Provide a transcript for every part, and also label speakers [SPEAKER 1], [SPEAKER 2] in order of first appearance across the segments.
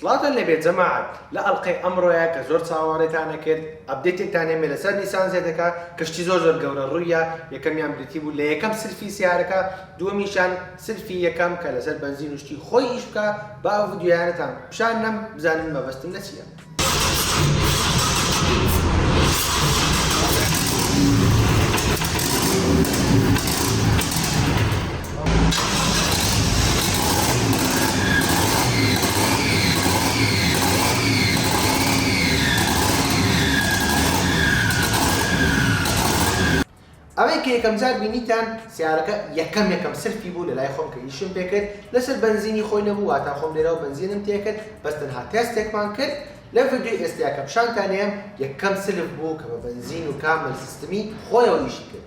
[SPEAKER 1] سڵاوتان لێبێت جەماعەت لە ئەڵقەی ئەمڕۆیە کە زۆر چاوەڕێتانە کرد ئەبدەیتێکتان هێمێ لەسەر نیسان زێدەکە کەشتی زۆر زۆر گەورە ڕوویە یەکەمیان بریتی بوو لە یەکەم سلفی سیارەکە دووەمیشان سلفی یەکەم کە لەسەر بەنزین و شتی خۆی ئیش بکا با ئەو ڤیدیۆیانەتان پشان نەم بزانن مەبەستم لە چیە. ئەوەی کە یەکەم جار بینیتان سەیارەکە یەکەم یەکەم سرفی بوو لەلای خۆم کە ئیشم پێ کرد لەسەر بەنزینی خۆی نەبوو واتا خۆم لێرەوە بەنزینم تێ کرد بەس تەنها تێستێکمان کرد لەم ڤیدیۆی ئێستەیا کە پیشانتان ئەیەم یەکەم سرف بوو کە بە بەنزین و کامل سیستمی خۆیەوە ئیشی کرد.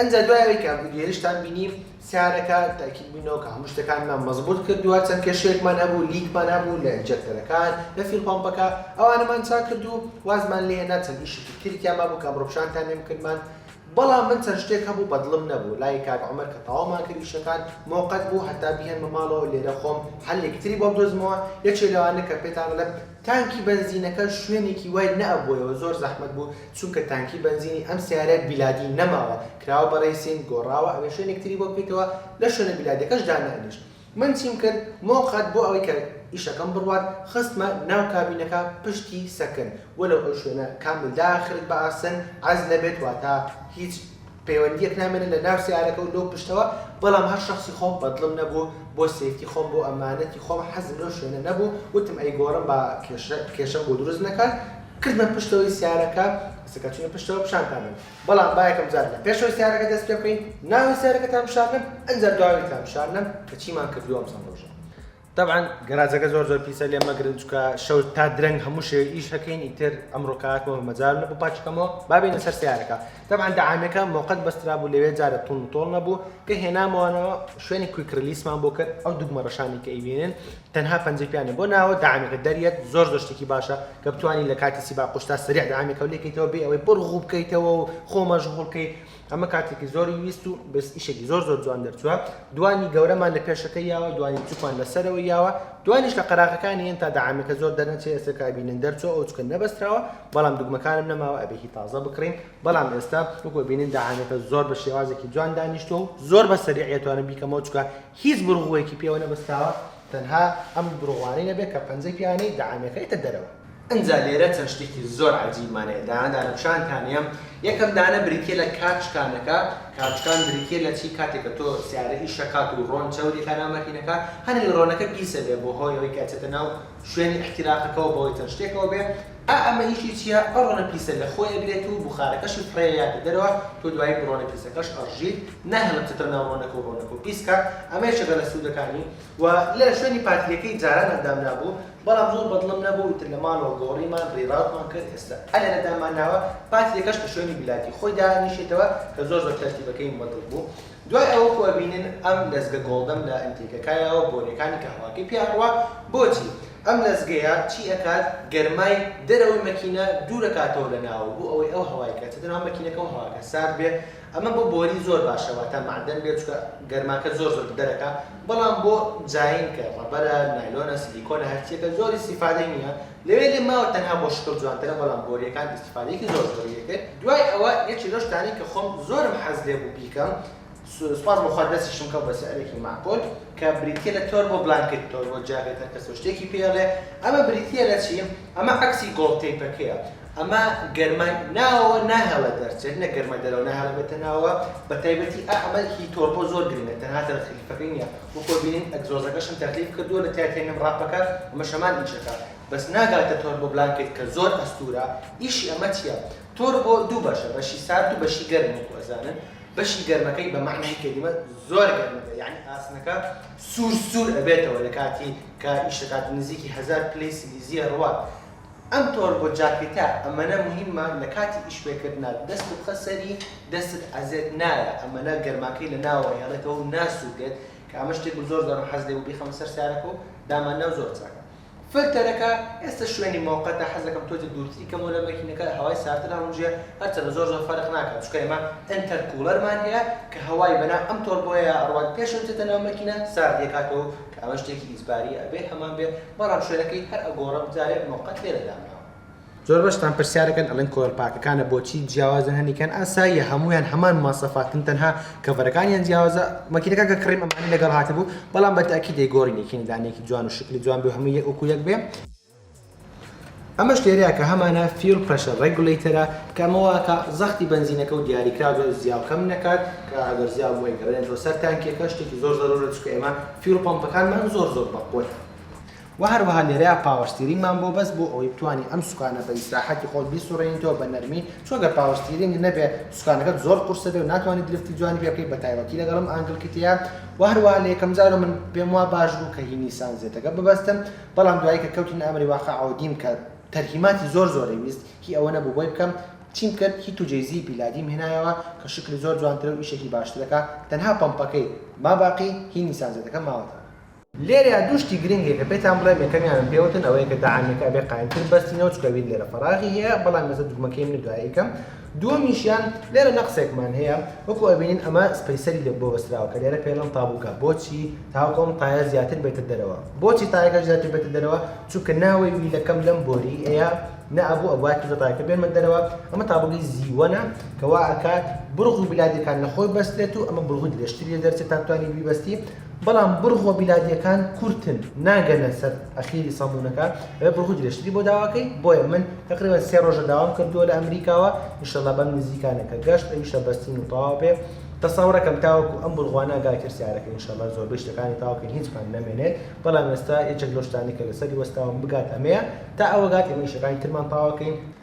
[SPEAKER 1] ئنجا دوای ئەوەی کە ڤیدیۆیشتان بینی سارەکە تاکید بوینەوە کە هەموو شتەکانمان مەزبوط کردووە چەند کێشەیەکمان هەبوو لیکمان هەبوو لە ئینجێکتەرەکان لە فیول پەمپەکە ئەوانەمان چاک کرد و وازمان لێهێنا چەند ئیشێکی تریکیان مابوو کە ئەمڕۆ پیشانتانیان کردمان بەڵام من چەند شتێک هەبوو بەدڵم نەبوو لای کاک عومەر کە تەواومان کرد ئیشەکان مۆقەت بوو هەتا بیهێنمە ماڵەوە لێرە خۆم حەلێکی تری بۆ بدۆزمەوە یەکێ لەوانە کە پێتان ئەڵێم تانکی بەنزینەکە شوێنێکی وای نەئەبووەوە زۆر زەحمەت بوو چونکە تانکی بەنزینی ئەم سەیارە بیلادی نەماوە کراوە بە ڕەیسین گۆڕاوە ئەبێ شوێنێک تری بۆ بکەیتەوە لە شوێنە بیلادیەکەش دانەنیشت من چیم کرد مۆ قەت بۆ ئەوەی کە ئیشەکەم بڕوات خستمە ناو کابینەکە پشتی سەکن وەلەو ئەو شوێنە کامل داخلت بە ئاسن عەزلە بێت واتە هیچ پەیوەندیەک نامێنێت لە ناو سەیارەکە و لەو پشتەوە بەڵام هەر شەخسی خۆم بەدڵم نەبوو بۆ سەیفتی خۆم بۆ ئەمانەتی خۆم حەزم لەو شوێنە نەبوو وتم ئەیگۆڕم با کێشە کێشەم بۆ دروست نەکات کردمە پشتەوەی سەیارەکە سەکە چونە پشتەوە پیشان دامن. بەڵام با یەکەم جار لە پێش هۆسیارەکە دەست پێ بکەین نا هۆسیارەکەتان بشارنم ئەنجا دواویتان بشارنم کە چیمان کردووە ئەم چەند ڕۆژە تەبعەن گەراجەکە زۆر زۆر پیسە لێ مەگرن چکە شەو تا درەنگ هەموو شێ ئیش هەکەین ئیتر ئەمڕۆ کاتمەوە مەجال نەبوو پاچکەمەوە بابینە سەر سیارەکە تەبعەن دەعامەکە مۆقەت بەسترا بوو لەوێ جارە تون تۆڵ نەبوو کە هێنامەوەەوە شوێنی کویک ریلیسمان بۆ کرد ئەو دوگمە ڕەشانی کە ئەیبینن تەنها پەنجەی پیا نیە بۆ ناوە دەعامەکە دەریەت زۆر زۆر شتێکی باشە کە بتوانی لە کاتی سیبا قوشتا سریع دەعامی کەو لێکەیتەوە بێ ئەوەی بڕ غوو بکەیتەوە و خۆ مەشغوڵ کەیت ئەمە کاتێکی زۆری ویست و بەس ئیشێکی زۆر زۆر جوان دەرچووە دوانی گەورەمان لە پێشەکە یاوە دوانی بچووکمان لەسەرەوە یاوە دوانیش لە قەراغەکانی هێن تا دەعامەکە زۆر دەرنەچێ ئێستا کابینن دەرچوە ئەو چکە نەبەستراوە بەڵام دوگمەکانم نەماوە ئەبێکی تازە بکڕین بەڵام ئێستا وەکو بینین دەعامەکە زۆر بە شێوازێکی جوان دانیشتوە و زۆر بە سەریعەتوانم بیکەمەوە چکە هیچ بوروغوەیەکی پێوە نەبەستاوە تەنها ئەم بوروغوانەی نەبێت کە پەنجەی پێیانەی دەعامێکرێتە دەرەوە. ئنجا لێرە چەند شتێکی زۆر عەجیبمان هەیە دانە دانە پشانتان هەیە یەکەم دانە بریتیە لە کاتشکانەکە کاتشکان بریتیە لە چی کاتێک کە تۆ سیارە ئیش ئەکات و ڕۆن چەوری ئەکا ناو مەکینەکە هەر ئەوی ڕۆنەکە پیسە بێ بۆ هۆی ئەوەی کە ئەچێتە ناو شوێنی ئیحتیراقەکەوە بەهۆی چەند شتێکەوە بێ ئا ئەمە ئیشی چیە ئەڕۆنە پیسە لە خۆی ئەگرێت و بوخارەکەشی فڕێ یاتە دەرەوە تۆ دوایی بڕۆنە پیسەکەش ئەڕژیت ناهێڵن بچێتە ناو ڕۆنەکە و ڕۆنەکەو پیس کات ئەمە یەکێکە لە سودەکانی و لە شوێنی پاتریەکەی جاران ئەندام نابوو بەڵام زۆر بەدڵم نەبوو ئیتر لە ماڵەوە گۆڕیمان ڕیڕاوتمان کرد ئێستا ئەلێرە دامان ناوە پاتریەکەش کە شوێنی بلاتی خۆی دانیشێتەوە کە زۆر زۆر تەرتیبەکەیم بەدڵ بوو دوای ئەوە خۆ ئەبینن ئەم لەزگە گۆڵدەم لە ئەنتیکەکایەوە بۆنیەکانی کەهەواکەی پێ ئەڕوا بۆچی ئەم لەزگەیە چی ئەکات گەرمای دەرەوەی مەکینە دوورەکاتەوە لە ناوە بۆ ئەوەی ئەو هەوای کە ئەچێتە ناو مەکینەکە و هەواکە سارد بێ ئەمە بۆ بۆری زۆر باشە واتا مەعدەن بێ چونکە گەرماکە زۆر زۆر دەرەکا بەڵام بۆ جاین کە ڕەبەرە نایلۆنە سلیکۆنە هەرچیەکە زۆر استیفادەی نییە لەوێ لێ ماوە تەنها بۆ شکڵ جوانترە بەڵام بۆریەکان استیفادەیەکی زۆر زۆری لێ کرد دوای ئەوە یەکێ لەو شتانەی کە خۆم زۆرم حەز لێ بوو بیکەم سوپاس بۆ خوا دەستیشم کەوت بە سعرێکی مەعقول کە بریتیە لە تۆربۆ بلانکت تۆربۆ جاکێت هەر کەسەو شتێکی پێ ئەڵێ ئەمە بریتیە لە چی ئەمە عەکسی گۆڵد تەیپەکەیە ئەمە گەرمای ناوەوە ناهێڵێت دەرچێت نەک گەرمای دەرەوە ناهێڵێت بێتە ناوەوە بە تایبەتی ئا ئەمە هی تۆربۆ زۆر گرنگە تەنها تەرخیفەکەی نیە وەک بینین ئەگزۆزەکەشم تەرخیف کردووە لە تایە تێنم ڕاپەکە ئەمەش هەمان ئیشەکە بەس ناگاتە تۆربۆ بلانکت کە زۆر ئەستوورە ئیشی ئەمە چیە تۆربۆ دوو بەشە بەشی سارد و بەشی گەرم وەکو ئەزانن بەشی گەرمەکەی بە مەعنای کەلیمە زۆر گەرمە بێ یەعنی ئاسنەکە سوور سوور ئەبێتەوە لە کاتی کە ئیش دەکات نزیکی هەزار پلەی سلیزیە ڕوات ئەم تۆربۆ جاکیتە ئەمەنە موهیمە لە کاتی ئیش پێ کردنا دەست بخە سەری دەستت ئەزێت نایە ئەمەنە گەرماکەی لە ناوەوە ئەهێڵێتەوە و ناسووتێت کە ئەمە شتێک بوو زۆر جارم حەز لێ بوو بیخەمە سەر سارەکە و داماننا و زۆر چاکە. فلتەرەکە ئێستا شوێنی مۆقەتە حەزەکەم تۆزێک دوورتری کەمەوە لە مەکینەکە هەوای ساردتر هەڵمژێ هەرچەندە زۆر زۆر فەرق ناکات چونکە ئێمە ئینتەر کوڵەرمان هەیە کە هەوای بەناو ئەم تۆربۆیەیا ئەڕوات پێش ئەوەی بچێتە ناو مەکینە سارد یەکاتەوەو کە ئەمە شتێکی ئیجباریە ئەبێ هەمان بێ بەڵام شوێنەکەی هەر ئەگۆڕم جارێ مۆقەت لێرە دامناوە زۆر بەشتان پرسیارەکەن ئەڵێن کۆیڵ پاکەکانە بۆچی جیاوازن هەنیکان ئاساییە هەموویان هەمان مواصفاتن تەنها کەڤەرەکانیان جیاوازە مەکینەکە کە کڕیم ئەمانەی لەگەڵ هاتبوو بەڵام بە تەئکید دەیگۆڕین یەکینی دانەیەکی جوان و شکلی جوان بێ و هەمووی یەک وەکو یەک بێ ئەمەش لێرەیە کە هەمانە فیول پرێشەر ڕێگولەیتەرە کە ئەمە واکا زەختی بەنزینەکە و دیاریکراو زۆر زیا و کەم نەکات کە ئەگەر زیا بوو ئەیگەڕێنێتەوە سەر تانکیەکە شتێکی زۆر زەرورە چونکە ئێمە فیول پەمپەکانمان زۆر زۆر بەقوەتە وە هەروەها لێرەیا پاوەر ستیرینگمان بۆ بەس بۆ ئەوەی بتوانی ئەم سوکانە بە ئیسراحەتی خۆت بیسوڕێنیتەوە بە نەرمی چۆ گەر پاوەر ستیرینگ نەبێ سوکانەکەت زۆر قورسە بێ و ناتوانی درفتی جوانی پێ بکەی بە تایبەتی لەگەڵ ئەم ئانگل کیتەیا وە هەروەها لە یەکەم جارەوە من پێم وا باش بوو کە هی نیسان زێتەکە ببەستم بەڵام دوایی کە کەوتینە ئەمری واقعەوە دیم کە تەرهیماتی زۆر زۆرەی ویست هی ئەوە نەبوو بۆی بکەم چیم کرد هی توجەیزی پیلادیم هێنایەوە کە شکلی زۆر جوانترە و ئیشێکی باشترەکا تەنها پەمپەکەی ما باقی هی نیسان زێتەکە ماوەتەوە. لێرەیا دوو شتی گرنگ هەیە کە پێتان بڵێم یەکەمیانم پێوتن ئەوەیە کە دەعامیەکە ئەبێ قایمتر بەستی نەوت چکە ویل لێرە فەراغی هەیە بەڵام ئێستا دوگمەکەی منە دوای ئەیکەم دووەمیشیان لێرە نەقسێکمان هەیە وەکو ئەبینین ئەمە سپەیسەری لێ بۆ بەستراوە کە لێرە پێڵن تابووکە بۆچی تاوەکو ئەم تایە زیاتر بێتە دەرەوە بۆچی تایەکە زیاتر بێتە دەرەوە چونکە ناوەی ویلەکەم لەم بۆری ئەیە نە ئەبوو ئەبوایە تیزە تایەکە بێنمە دەرەوە ئەمە تابووگەی زیوەنە کەوا ئەکات بڕغ و بلادەکان لە خۆی بەستێت و ئەمە بڕغوی درێژتری لێ دەرچێت تا بتوانین بیبەستی بەڵام بڕگۆ بیلادیەکان کورتن ناگەنە سەر ئەخیری سەمونەکە ئەوێ بڕگۆ درێژتری بۆ داواکەی بۆیە من تقریبا سێ ڕۆژە داوام کردووە لە ئەمریکاوە انشاللە بەم نزیکانە کە گەشت ئەویشە بەستین و تەواو بێ تەسەورەکەم تاوەکو ئەم بڕغوانە گا کرسیارەکە انشاللە زۆربەی شتەکانی تاوکەین هیچ پان نەمێنێت بەڵام ئێستا یەکێک لەو شتانەی کە لەسەری وەستاوم بگات ئەمەیە تا ئەوە گات ئێمە ئیشەکانی ترمان تاوەکەین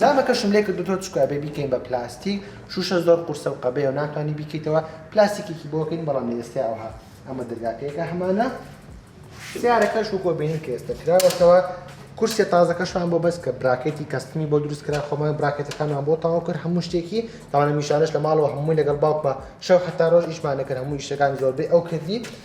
[SPEAKER 1] جامەکەشم لێ کردۆتەوە چونکە ئەبێ بیکەین بە پلاستیک شوشە زۆر قورسە و قەبەیە و ناتوانانی بیکەیتەوە پلاستیکێکی بۆ کەین بەڵام لە ئێستا ئەوها ئەمە دەرگاکەیەکە هەمانە سیارەکەش وکۆ بینن کە ئێستا کراوەتەوە کورسێ تازەکەشمان بۆ بەس کە براکەتی کەستمی بۆ دروست کرا خۆمان براکەتەکانمان بۆ تاو کرد هەموو شتێکی تاوانە میشانش لە ماڵەوە هەمووی لەگەڵ باوکمە شەو حتا ڕۆژ ئیشمانەکرد هەموو شتەکان زۆربەی ئەو کردی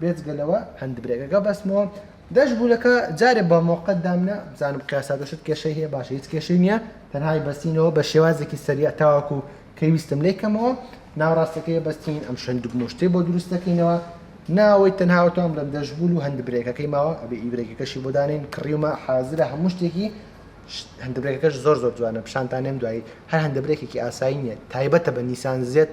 [SPEAKER 1] بێجگە لەوە هەند برێکەکە بەستمەوە دەش بوولەکە جارێ بە مۆقەت دامنە بزانم قیاساتەشت کێشەی هەیە باشە هیچ کێشەی نییە تەنهای بەستینەوە بە شێوازێکی سەریع تاواکو کەی ویستم لی کەمەوە ناوڕاستەکەی بەستین ئەم شەند مشتێ بۆ دروستەکەینەوە ناوەی تەنهاوتان بڵم دەشبول و هەند برێکەکەی ماوە ئەبێ ئیبرێکەکەشی بۆ دانین کڕیومە حازرە هەموو شتێکی هەندبرێکەکەش زۆر زۆر جوانە پیشانتانێم دوایی هەر هەندبرێکێکی ئاسایی نیە تایبەتە بە نیسان زێت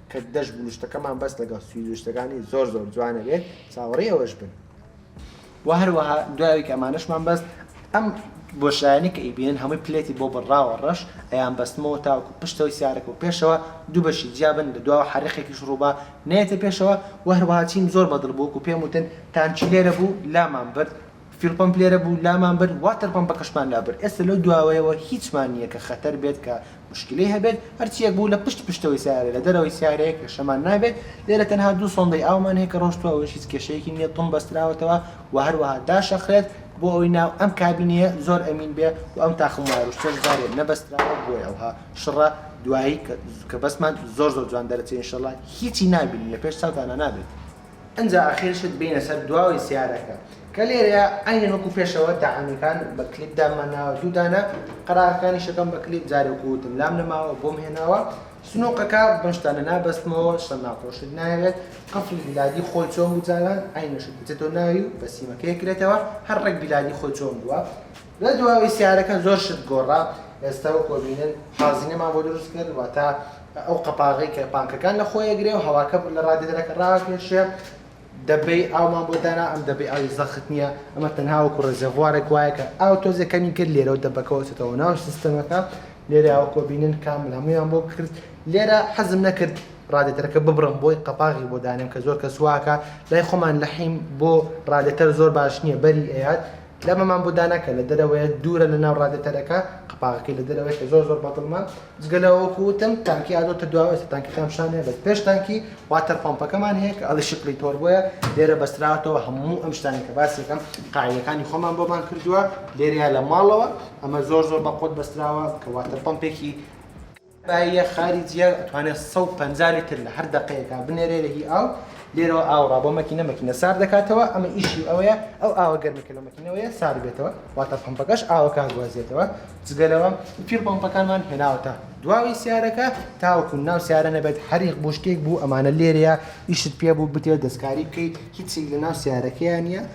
[SPEAKER 1] کە دەش بلوشتەکەمان بەس لەگەڵ سوی لوشتەکانی زۆر زۆر جوانە بێت چاوەڕی ئەوەش بن و هەروەها دوایوی کە ئەمانەشمان بەست ئەم بۆشایانی کە ئیبێن هەمووی پلێتی بۆ بڕاوە ڕەش ئەیان بەستمەوە تاوەکو پشتەوەی سیارەکە و پێشەوە دوو بەشی جیابن لە دواوە حرقێکیش ڕووبا نێتە پێشەوە و هەروەها چیم زۆر بەدڵ بووک و پێم وتن تانچی لێرە بوو لامان برد فیوڵ پەمپ لێرە بوو لامان برد واتەر پەمپەکەشمان لا برد ئێستا لەو دواوەیەوە هیچمان نییە کە خەتەر بێت کە موشکیلەی هەبێت هەرچییەک بوو لە پشت پشتەوەی سەیارە لە دەرەوەی سەیارەیە کێشەمان نابێت لێرە تەنها دوو سۆندەی ئاومان هەیە کە ڕۆشتووە ئەوەش هیچ کێشەیەکی نییە تڵ بەستراوەتەوە و هەروەها داشەخرێت بۆ ئەوەی ناو ئەم کابینەیە زۆر ئەمین بێ و ئەم تاقم وایەروشتەش جارێ نەبەستراوە بۆیە ئەوها شڕە دوایی کە بەسمان زۆر زۆر جوان دەرەچێ ئینشەڵا هیچی نابینن لە پێش چاوتانا نابێت. ئنجا ئەخیر شت بینە سەر دواوەی سیارەکە کە لێرەیە عینەن وەکو پێشەوە دەعامەکان بە کلیپ دامان ناوە دوو دانە قەراغەکانی شەکەم بە کلیپ جارێ وەکو وتم لام نەماوە بۆم هێناوە سنووقەکە بەم شتانە نابەستمەوە شتە ناخۆشت ناوێت قفڵی بیلادی خۆی چۆن بوو جاران عینەشت بچێتەوە ناوی و بە سیمەکەی کرێتەوە هەر ڕێک بیلادی خۆی چۆن بووە لە دواوەی سارەکە زۆر شت گۆڕا ئێستا وەک وەبینن حازینەمان بۆ دروست کرد واتە ئەو قەپاغی کە پانکەکان لە خۆیە گرێ و هەواکە لە ڕادێدەرەکە ڕاکێشێ دەبەی ئاومان بۆ دانا ئەم دەبەی ئاوی زەخت نییە ئەمە تەنها وەکو ڕێزێڤوارێک وایە کە ئاو تۆزێ کەمی کرد لێرە و دەبەکەوەچێتەوە ناو سیستەمەکە لێرە ئەوکۆ بینن کامل هەمویان بۆ کرد لێرە حەزم نەکرد ڕادێتەرەکە ببڕم بۆی قەپاغی بۆ دانێم کە زۆر کە سواکە لای خۆمان لەحیم بۆ ڕادێتەر زۆر باش نییە بەری ئەیات لە مەمان بودانەکە لە دەرەوەیە دوورە لە ناو ڕادێتەرەکە قەپاغەکەی لە دەرەوەیە زۆر زۆر بەدڵمە جگەلەوەکو وتم تانکی ئادۆتە دواوە تانکی خام شانێ بەس پێش تانکی واتەر پۆمپەکەمان هەیە کە ئەڵی شکلی تۆر بۆیە لێرە بەستراوەتەوە هەموو ئەم شتانی کە باسیەکەم قاعەکانی خۆمان بۆمان کردووە لێرەیە لە ماڵەوە ئەمە زۆر زۆر بەقۆت بەستراوە کە واتەر پۆمپێکی باییە خاری جیا ئەتوانێت 150 لیتر لە هەر دەقەیەکە بنێرێ لە هی ئاو لێرەوە ئاوڕا بۆ مەکینە مەکینە سار دەکاتەوە ئەمە ئیشی ئەوەیە ئەو ئاوە گەرمەکە لە مەکینەوەیە سار بێتەوە واتە پمپەکەش ئاوەکە هەگوازێتەوە جگەلەوە پیر پمپەکانمان هێناوەتە دواوی سیارەکە تاوەکو ناو سیارە نەبێت هەریق بۆ شتێک بوو ئەمانە لێرەیە ئیشت پێ بوو بتێ دەستکاری بکەیت هیچی لە ناو سیارەکەیان نیە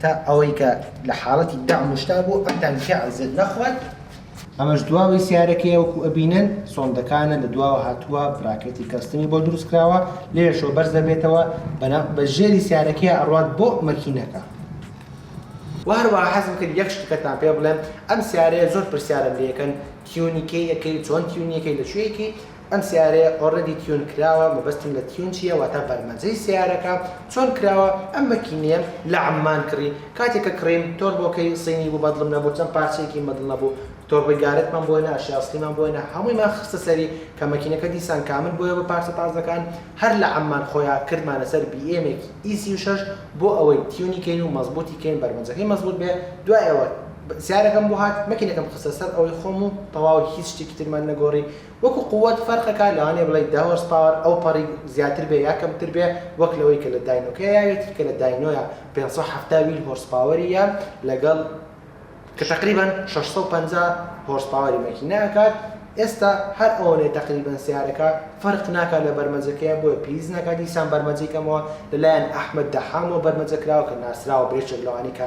[SPEAKER 1] تا ئەوەی کە لە حاڵەتی دەعم و شتا بوو ئەتان تیا عزێت نەخوات. ئەمەش دواوەی سیارەکەیە وەکو ئەبینن سۆندەکانە لە دواوە هاتووە براکێتی کەستمی بۆ دروست کراوە لێرەشەوە بەرز دەبێتەوە بە ژێری سیارەکەیە ئەڕوات بۆ مەکینەکە. وە هەروەها حەزم کرد یەک شتکەتان پێ بڵێم ئەم سیارەیە زۆر پرسیارم لێ ئەکەن تیونی کەی ئەکەی چۆن تیونی ئەکەی لە کوێ ئەکەی؟ ئەم سەیارەیە ئۆڕێدی تیون کراوە مەبەستم لە تیون چیە واتا بەرمەجەی سەیارەکە چۆن کراوە ئەم مەکینەیەم لە عەممان کڕی کاتێ کە کڕیم تۆربۆکەی صینی بوو بەدڵم نەبوو چەند پارچەیەکی مەدڵ نەبوو تۆربۆی گارەتمان بۆ هێنا ئەشیای ئەسڵیمان بۆ هێنا هەموویمان خستە سەری کە مەکینەکە دیسان کامل بۆیە بە پارچە تازەکان هەر لە عەممان خۆیا کردمانە سەر بیئێمێکی ئی سی و شەش بۆ ئەوەی تیونی کەین و مەزبوتی کەین بەرمەجەکەی مەزبوت بێ دوای ئەوە سەیارەکەم بۆ هات مەکینەکەم خستە سەر ئەوەی خۆم و تەواو هیچ شتێکی ترمان نەگۆڕی وەکو قوت فەرقەکە لەوانەیە بڵێی دە هۆرس پاوەر ئەوپەڕی زیاتر بێ یا کەمتر بێ وەک لەوەی کە لە داینۆکەیا یاوێتی کە لە داینۆیا پێنج سەد و حەفتا ویل هۆرس پاوەری یا لەگەڵ کە تەقریبەن شەش سەد و پەنجا هۆرس پاوەری مەکینە ئەکات ئێستا هەر ئەوەنەی تەقریبەن سەیارەکە فەرق ناکات لە بەرمەجەکەیا بۆیە پیس ناکات دیسان بەرمەجەی کەمەوە لەلایەن ئەحمەد دەحامەوە بەرمەجە کراوە کە ناسراوە بە یەکێک لەوانەی کە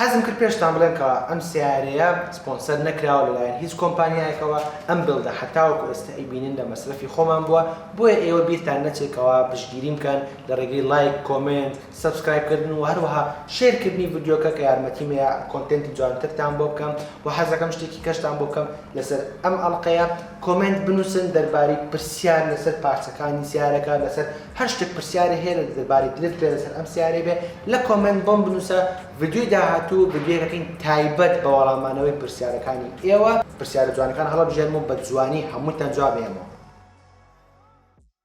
[SPEAKER 1] حەزم کرد پێشتان بڵێم کە ئەم سەیارەیە سپۆنسەر نەکراوە لەلایەن هیچ کۆمپانیایەکەوە، ئەم بێڵدە هەر تاوەکو ئێستا ئەیبینن لە مەسرەفی خۆمان بووە، بۆیە ئێوە بیرتان نەچێت کەوا پشتگیریم بکەن لە ڕێگەی لایک، کۆمێنت، سەبسکرایب کردن و هەروەها شێر کردنی ڤیدیۆکە کە یارمەتیم ئەیا کۆنتێنتی جوانترتان بۆ بکەم وە حەزەکەم شتێکی کەشتان بۆ بکەم لەسەر ئەم ئەڵقەیە کۆمێنت بنوسن دەربارەی پرسیار لەسەر پارچەکانی سیارەکە لەسەر هەر شتێک پرسیارێ هەیە دەربارەی درفت بێ لەسەر ئەم سیارەی بێ لە کۆمێنت بۆم بنوسە ڤیدیۆی داهاتوو ڤیدیۆکەکەین تایبەت بە وەڵامانەوەی پرسیارەکانی ئێوە پرسیارە جوانەکان هەڵەبژێرم و بە جوانی هەمووتان جواب ئێمەوە.